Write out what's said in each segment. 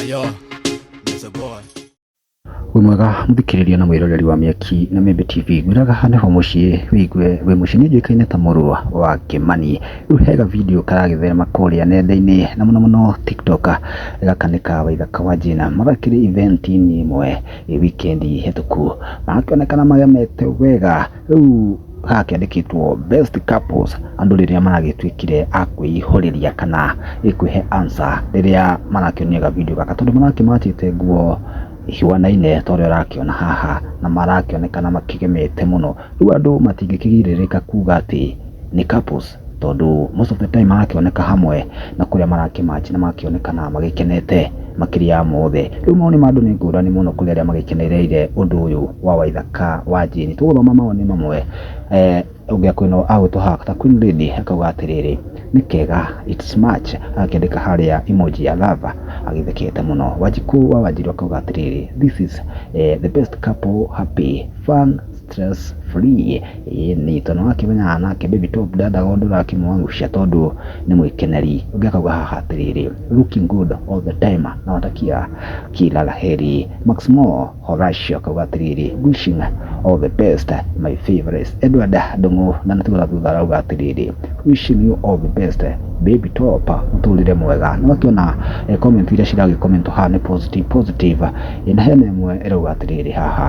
Ayo, Mr. Boy. wĩ mwega mũthikĩrĩria na mwĩroreri wa mĩaki na mĩmbe tv ngwĩraga hane ho mũciĩ wĩigue wĩ mũciĩ nĩ njũĩkaine ta mũrũ wa kĩmani rĩu hega video karagĩtherema kũrĩa nenda-inĩ na mũno mũno tiktok gaka nĩ ka waithaka wa jina magakĩrĩ event-inĩ ĩmwe ĩ wikendi hĩtũku magakĩonekana magemete wega Rĩu haha kĩandĩkĩtwo best couples, andũ rĩrĩa maragĩtuĩkire a kwĩihũrĩria kana kwĩhe answer rĩrĩa marakĩonio ga video gaka, tondũ marakĩmatĩte nguo ihuanaine ta ũrĩa ũrakĩona haha, na marakĩonekana makĩgemete mũno. Rĩu andũ matingĩkĩgirĩrĩka kuga atĩ nĩ couples. tondũ most of the time marakĩoneka hamwe na kũrĩa marakĩmatch nĩ marakĩonekana magĩkenete makĩria ya mothe. Rĩu mawoni ma andũ nĩ ngũrani mũno kũrĩ arĩa magĩkenereire ũndũ ũyũ wa Waithaka wa Jane. Tũgũthoma mawoni mamwe eh, ũngĩa kwĩna agwĩtwo haha ta Queen Lady akauga atĩrĩrĩ nĩ kega it's much agakĩandĩka harĩa emoji ya lava agĩthekete mũno. Wanjikũ wa Wanjirũ akauga atĩrĩrĩ this is eh, the best couple happy fun stress free Ĩni tondũ nĩwakĩmenyaga nake baby top ndendaga ũndũ ũrakĩmũangusha tondũ nĩ mwĩkeneri. Ũngĩ akauga haha atĩrĩrĩ, looking good all the time nawatakia kila la heri. Maxmore Horacio akauga atĩrĩrĩ, wishing all the best my favourites. Edward Ndung'u ndanatigwo na thutha arauga atĩrĩrĩ, wishing you all the best baby top mũtũrĩre mwega. Nĩwakĩona comment iria ciragĩ comment haha nĩ positive positive. Ĩna hena ĩmwe ĩrauga atĩrĩrĩ haha.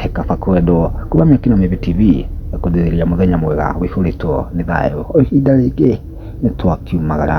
He kaba kwendwo. Kuma Mĩaki na Mĩĩthĩ TV ĩkũthĩrĩria mũthenya mwega ũihũrĩtwo nĩ thayũ. O ihinda rĩngĩ nĩ twakiumagara.